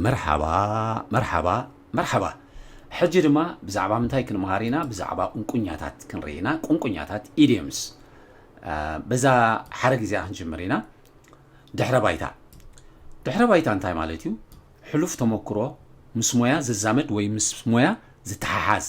መርሓባ መርሓባ መርሓባ ሕጂ ድማ ብዛዕባ ምንታይ ክንምሃር ኢና ብዛዕባ ቁንቁኛታት ክንርኢ ኢና ቁንቁኛታት ኢድየምስ በዛ ሓረግ እዚኣ ክንጅምር ኢና ድሕረ ባይታ ድሕረ ባይታ እንታይ ማለት እዩ ሕሉፍ ተመክሮ ምስ ሞያ ዝዛመድ ወይ ምስ ሞያ ዝተሓሓዝ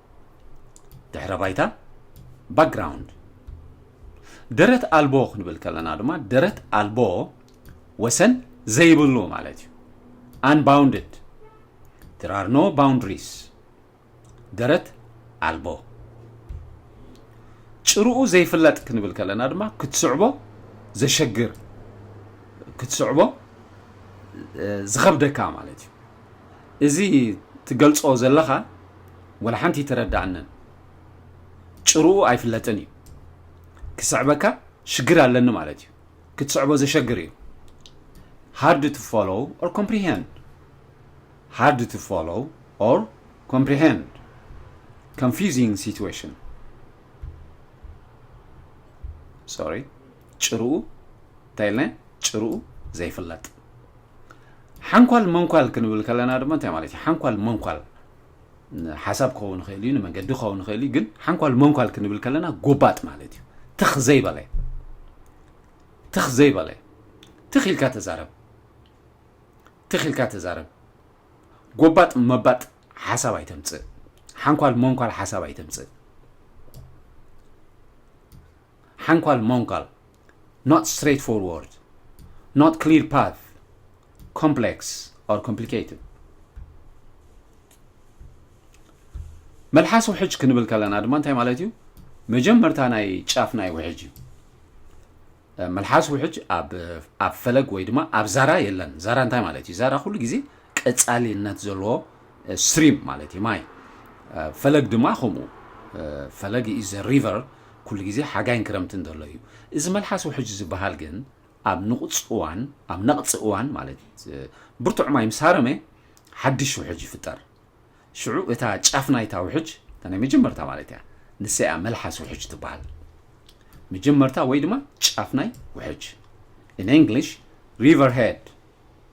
ድሕረ ባይታ ባክግራውንድ ደረት ኣልቦ ክንብል ከለና ድማ ደረት ኣልቦ ወሰን ዘይብሉ ማለት እዩ ኣንባውንድድ there are no boundaries ደረት ኣልቦ ጭርኡ ዘይፍለጥ ክንብል ከለና ድማ ክትስዕቦ ዘሸግር ክትስዕቦ ዝኸብደካ ማለት እዩ እዚ ትገልጾ ዘለኻ ወላ ሓንቲ ኣይተረዳኣንን ጭርኡ ኣይፍለጥን እዩ ክስዕበካ ሽግር ኣለኒ ማለት እዩ ክትስዕቦ ዘሸግር እዩ ሃርድ ቱ ፎሎው ኦር ኮምፕሪሄንድ ሃርድ ቱ ፎሎው ኦር ኮምፕሪሄንድ ኮንፊዚንግ ሲትዌሽን ሶሪ ጭርኡ እንታይ ኢልና ጭርኡ ዘይፍለጥ ሓንኳል መንኳል ክንብል ከለና ድማ እንታይ ማለት እዩ ሓንኳል መንኳል ሓሳብ ክኸውን ይኽእል እዩ ንመንገዲ ክኸውን ይኽእል እዩ ግን ሓንኳል መንኳል ክንብል ከለና ጎባጥ ማለት እዩ ትኽ ዘይበለ ትኽ ዘይበለ ትኽ ኢልካ ተዛረብ ትኽ ኢልካ ተዛረብ ጎባጥ መባጥ ሓሳብ ኣይተምፅእ ሓንኳል መንኳል ሓሳብ ኣይተምፅእ ሓንኳል ሞንካል not straight forward not clear path complex or complicated መልሓስ ውሕጅ ክንብል ከለና ድማ እንታይ ማለት እዩ መጀመርታ ናይ ጫፍ ናይ ውሕጅ እዩ መልሓስ ውሕጅ ኣብ ፈለግ ወይ ድማ ኣብ ዛራ የለን ዛራ እንታይ ማለት እዩ ዛራ ኩሉ ግዜ ቀጻሊነት ዘለዎ ስትሪም ማለት እዩ ማይ ፈለግ ድማ ከምኡ ፈለግ ኢዝ ሪቨር ኩሉ ግዜ ሓጋይን ክረምትን ዘሎ እዩ እዚ መልሓስ ውሕጅ ዝበሃል ግን ኣብ ንቑፅ እዋን ኣብ ነቕፂ እዋን ማለት ብርቱዕ ማይ ምስ ሃረመ ሓድሽ ውሕጅ ይፍጠር ሽዑ እታ ጫፍ ናይታ ውሕጅ እታ ናይ መጀመርታ ማለት እያ ንሰያ መልሓስ ውሕጅ ትበሃል መጀመርታ ወይ ድማ ጫፍ ናይ ውሕጅ ኢን እንግሊሽ ሪቨር ሄድ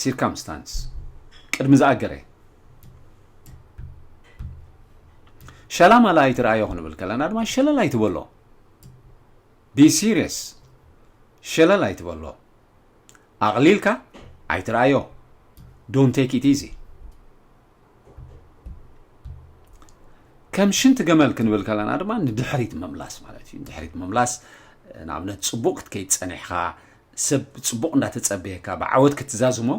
ሲርካምስታንስ ቅድሚ ዝኣገረ ሸላማላ ኣይትርኣዮ ክንብል ከለና ድማ ሸለል ኣይትበሎ ቢ ሲሪየስ ሸለል ኣይትበሎ ኣቕሊልካ ኣይትርኣዮ ዶን ቴክ ኢት ኢዚ ከም ሽንቲ ገመል ክንብል ከለና ድማ ንድሕሪት ምምላስ ማለት እዩ ንድሕሪት ምምላስ ንኣብነት ፅቡቅ ክትከይድ ፀኒሕካ ሰብ ጽቡቕ እንዳተጸበየካ ብዓወት ክትዛዝሞ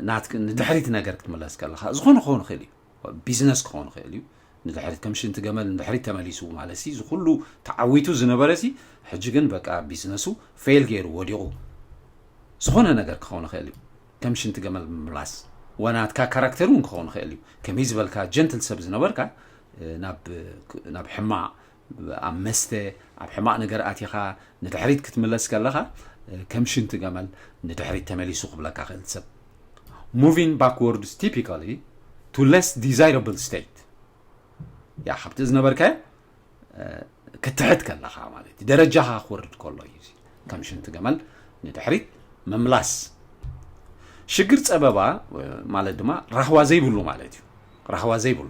ናትክ ንድሕሪት ነገር ክትምለስ ከለኻ ዝኾነ ክኸውን ይኽእል እዩ ቢዝነስ ክኸውን ይኽእል እዩ ንድሕሪት ከም ሽንቲ ገመል ንድሕሪት ተመሊሱ ማለት ሲ ዝኩሉ ተዓዊቱ ዝነበረ ሲ ሕጂ ግን በቃ ቢዝነሱ ፌል ገይሩ ወዲቑ ዝኾነ ነገር ክኸውን ይኽእል እዩ ከም ሽንቲ ገመል ምምላስ ወናትካ ካራክተር እውን ክኸውን ይኽእል እዩ ከመይ ዝበልካ ጀንትል ሰብ ዝነበርካ ናብ ሕማቕ ኣብ መስተ ኣብ ሕማቅ ነገር ኣቲኻ ንድሕሪት ክትምለስ ከለኻ ከም ሽንቲ ገመል ንድሕሪት ተመሊሱ ክብለካ ክእል ሰብ moving backwards typically to less desirable state ያ ካብቲ ዝነበርካዮ ክትሕት ከለኻ ማለት እዩ ደረጃኻ ክወርድ ከሎ እዩ ከም ሽንቲ ገመል ንድሕሪት ምምላስ ሽግር ፀበባ ማለት ድማ ራህዋ ዘይብሉ ማለት እዩ ራህዋ ዘይብሉ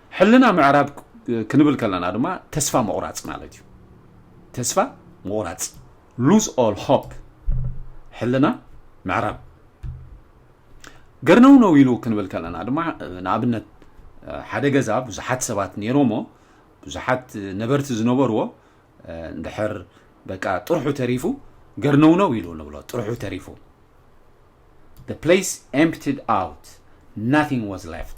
ሕልና ምዕራብ ክንብል ከለና ድማ ተስፋ ምቑራጽ ማለት እዩ ተስፋ ምቑራጽ ሉዝ ኦል ሆፕ ሕልና ምዕራብ ገርነው ነው ኢሉ ክንብል ከለና ድማ ንኣብነት ሓደ ገዛ ብዙሓት ሰባት ነይሮሞ ብዙሓት ነበርቲ ዝነበርዎ እንድሕር በቃ ጥርሑ ተሪፉ ገርነው ነው ኢሉ ንብሎ ጥርሑ ተሪፉ the place emptied out nothing was left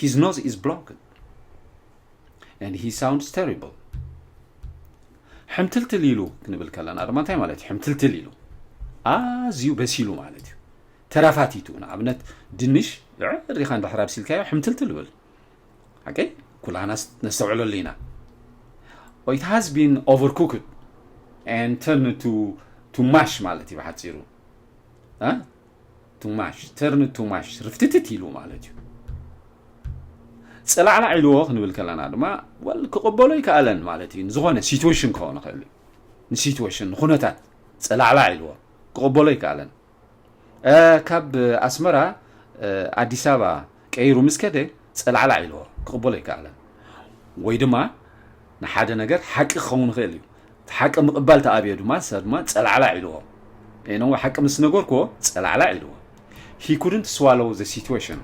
ሂዝ ኖዝ ኢዝ ብሎክድ ኣንድ ሂ ሳውንድስ ተሪብል ሕምትልትል ኢሉ ክንብል ከለና ድማ እንታይ ማለት እዩ ሕምትልትል ኢሉ ኣዝዩ በሲሉ ማለት እዩ ተራፋቲቱ ንኣብነት ድንሽ ሪኻ እንድሕር ኣብሲልካዮ ሕምትልትል ብል ሓቂ ኩላና ነስተውዕለሉ ኢና ኢት ሃዝ ቢን ኦቨር ኩክድ ን ተርን ቱ ማሽ ማለት እዩ ብሓፂሩ ቱ ማሽ ተርን ቱ ማሽ ርፍትትት ኢሉ ማለት እዩ ጽላዕላዕ ኢልዎ ክንብል ከለና ድማ ወል ክቕበሎ ይከኣለን ማለት እዩ ንዝኾነ ሲትዌሽን ክኸውን ይኽእል እዩ ንሲትዌሽን ንኩነታት ጽላዕላዕ ኢልዎ ክቕበሎ ይከኣለን ካብ ኣስመራ ኣዲስ ኣበባ ቀይሩ ምስ ከደ ጸላዕላዕ ኢልዎ ክቕበሎ ኣይከኣለን። ወይ ድማ ንሓደ ነገር ሓቂ ክኸውን ይኽእል እዩ። እቲ ሓቂ ምቕባል ተኣብዮ ድማ ንሳ ድማ ጸላዕላዕ ኢልዎ። ኤነወ ሓቂ ምስ ነገርክዎ ጸላዕላዕ ኢልዎ። ሂ ኩድንት ስዋሎው ዘ ሲትወሽን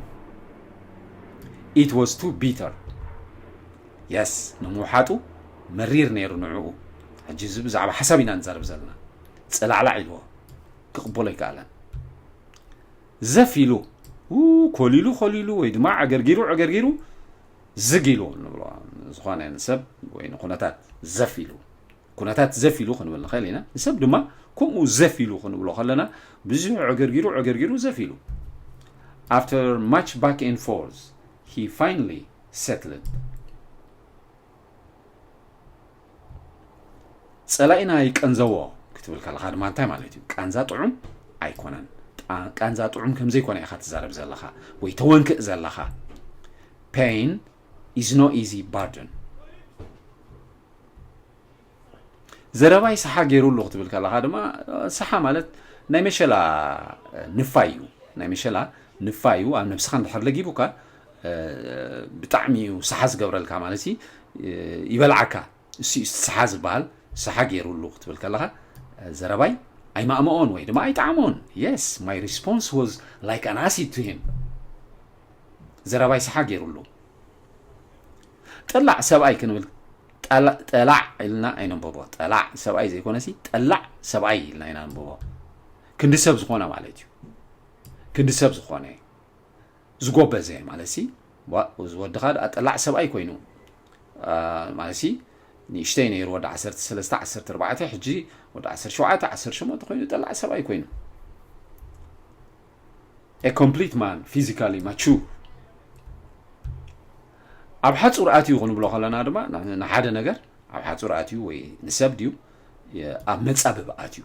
ኢት ወዝ ቱ ቢተር የስ ንምውሓጡ መሪር ነይሩ ንዕኡ። ሕጂ እዚ ብዛዕባ ሓሳብ ኢና ንዛረብ ዘለና። ጸላዕላዕ ኢልዎ ክቕበሎ ኣይከኣለን። ዘፍ ኢሉ ኮሊሉ ኮሊሉ ወይ ድማ ዕግርጊሩ ዕግርጊሩ ዝግ ኢሉ ንብሎ ዝኾነ ንሰብ ወይ ንኩነታት ዘፍ ኢሉ ኩነታት ዘፍ ኢሉ ክንብል ንኽእል ኢና ንሰብ ድማ ከምኡ ዘፍ ኢሉ ክንብሎ ከለና ብዙሕ ዕግርጊሩ ዕግርጊሩ ዘፍ ኢሉ after much back and forth he finally settled ጸላኢና ይቀንዘዎ ክትብል ከለኻ ድማ እንታይ ማለት እዩ ቃንዛ ጥዑም ኣይኮነን ቃንዛ ጥዑም ከምዘይኮነ ኢኻ ትዛረብ ዘለኻ ወይ ተወንክእ ዘለኻ ፔን ኢዝ ኖ ኢዚ ባርደን ዘረባይ ሰሓ ገይሩ ኣሎ ክትብል ከለኻ ድማ ሰሓ ማለት ናይ መሸላ ንፋይ እዩ ናይ መሸላ ንፋይ እዩ ኣብ ነብስኻ እንድሕር ለጊቡካ ብጣዕሚ እዩ ሰሓ ዝገብረልካ ማለት እዩ ይበልዓካ እሱ እዩ ሰሓ ዝበሃል ሰሓ ገይሩሉ ክትብል ከለኻ ዘረባይ ኣይማእመኦን ወይ ድማ ኣይጣዕሞን የስ ማይ ሪስፖንስ ወዝ ላይክ ኣን ኣሲድ ቱ ሂም ዘረባይ ሰሓ ገይሩሉ ጠላዕ ሰብኣይ ክንብል ጠላዕ ኢልና ኣይነንበቦ ጠላዕ ሰብኣይ ዘይኮነ ሲ ጠላዕ ሰብኣይ ኢልና ኢና ንበቦ ክንዲ ሰብ ዝኾነ ማለት እዩ ክንዲ ሰብ ዝኾነ ዝጎበዘ ማለትሲ ዋእ እዚ ወድኻ ደኣ ጠላዕ ሰብኣይ ኮይኑ ማለትሲ ንእሽተይ ነይሩ ወዲ ዓሰርተ ሰለስተ ዓሰርተ ኣርባዕተ ሕጂ ወዲ ዓሰርተ ሸውዓተ ዓሰርተ ሸሞንተ ኮይኑ ጠላዕ ሰብኣይ ኮይኑ ኤ ኮምፕሊት ማን ፊዚካሊ ማቹር ኣብ ሓፁር ኣትዩ ክንብሎ ከለና ድማ ንሓደ ነገር ኣብ ሓፁር ኣትዩ ወይ ንሰብ ድዩ ኣብ መፃብብ ኣትዩ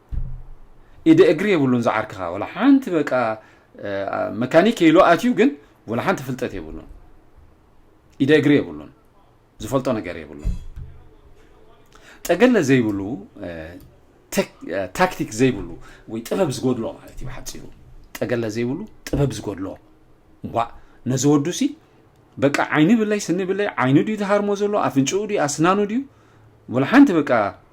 ኢደ እግሪ የብሉን ዝዓርክኻ ወላ ሓንቲ በቃ መካኒክ ኢሉ ኣትዩ ግን ወላ ሓንቲ ፍልጠት የብሉን ኢደ እግሪ የብሉን ዝፈልጦ ነገር የብሉን ጠገለ ዘይብሉ ታክቲክ ዘይብሉ ወይ ጥበብ ዝጎድሎ ማለት እዩ ሓፂሩ ጠገለ ዘይብሉ ጥበብ ዝጎድሎ እንኳ ነዚ ወዱ ሲ በቃ ዓይኒ ብለይ ስኒ ብለይ ዓይኑ ድዩ ዝሃርሞ ዘሎ ኣፍንጭኡ ድዩ ኣስናኑ ድዩ ወላ ሓንቲ በቃ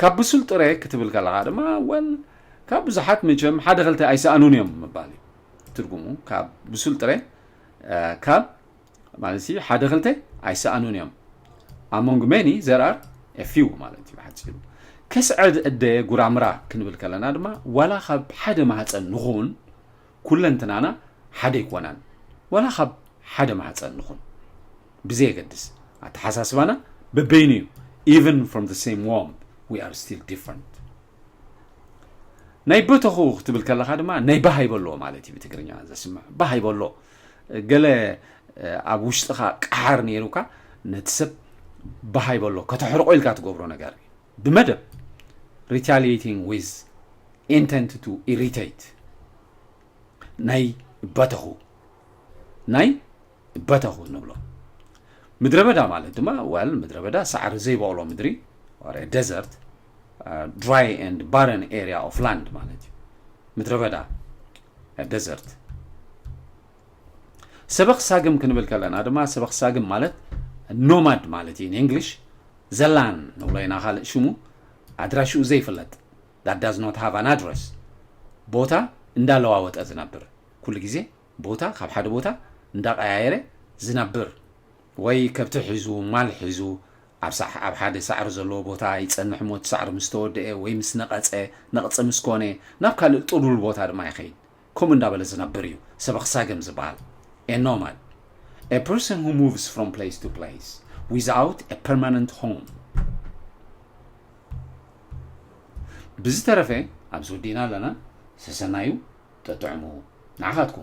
ካብ ብሱል ጥረ ክትብል ከለኻ ድማ ወል ካብ ብዙሓት መቸም ሓደ ክልተ ኣይሰኣኑን እዮም ምባል እዩ ትርጉሙ ካብ ብሱል ጥረ ካብ ማለት እዩ ሓደ ክልተ ኣይሰኣኑን እዮም ኣሞንግ ሜኒ ዘርኣር ኤፊው ማለት እዩ ሓፂሩ ከስዐድ እደ ጉራምራ ክንብል ከለና ድማ ዋላ ካብ ሓደ ማህፀን ንኹን ኩለንትናና ሓደ ይኮናን ዋላ ካብ ሓደ ማህፀን ንኹን ብዘየገድስ ኣተሓሳስባና በበይኑ እዩ ኢቨን ፍሮም ዘ ሴም ዎምብ ዊ ኣር ስቲል ዲፍረንት ናይ በተኹ ክትብል ከለኻ ድማ ናይ ባህ ይበሎ ማለት እዩ ብትግርኛ ዘስምዕ ባህ ይበሎ ገለ ኣብ ውሽጥኻ ቃሓር ነይሩካ ነቲ ሰብ ባህ ይበሎ ከተሕርቆ ኢልካ ትገብሮ ነገር እዩ ብመደብ ሪታሊቲንግ ዊዝ ኢንተንት ቱ ኢሪቴት ናይ በተኹ ናይ በተኹ ንብሎ። ምድረ በዳ ማለት ድማ ወል ምድረ በዳ ሳዕሪ ዘይበቕሎ ምድሪ ወረ ደዘርት ድራይ ኤንድ ባረን ኤሪያ ኦፍ ላንድ ማለት እዩ ምድረ በዳ ደዘርት ሰበኽ ሳግም ክንብል ከለና ድማ ሰበኽ ሳግም ማለት ኖማድ ማለት እዩ ንእንግሊሽ ዘላን ንብሎ ኢና ካልእ ሽሙ ኣድራሽኡ ዘይፍለጥ ዳት ዳዝ ኖት ሃቭ ኣን ኣድረስ ቦታ እንዳለዋወጠ ዝነብር ኩሉ ግዜ ቦታ ካብ ሓደ ቦታ እንዳቀያየረ ዝነብር ወይ ከብቲ ሒዙ ማል ሒዙ ኣብ ሓደ ሳዕሪ ዘለዎ ቦታ ይጸንሕ እሞ እቲ ሳዕሪ ምስ ተወደኤ ወይ ምስ ነቐጸ ነቕጺ ምስ ኮነ ናብ ካልእ ጥሉል ቦታ ድማ ይኸይድ ከምኡ እንዳበለ ዝነብር እዩ ሰበኽ ሳገም ዝበሃል a nomad a person who moves from place to place without a permanent home ብዝተረፈ ኣብዚ ወዲእና ኣለና ሰሰናዩ ጠጥዕሙ ንዓኻትኩም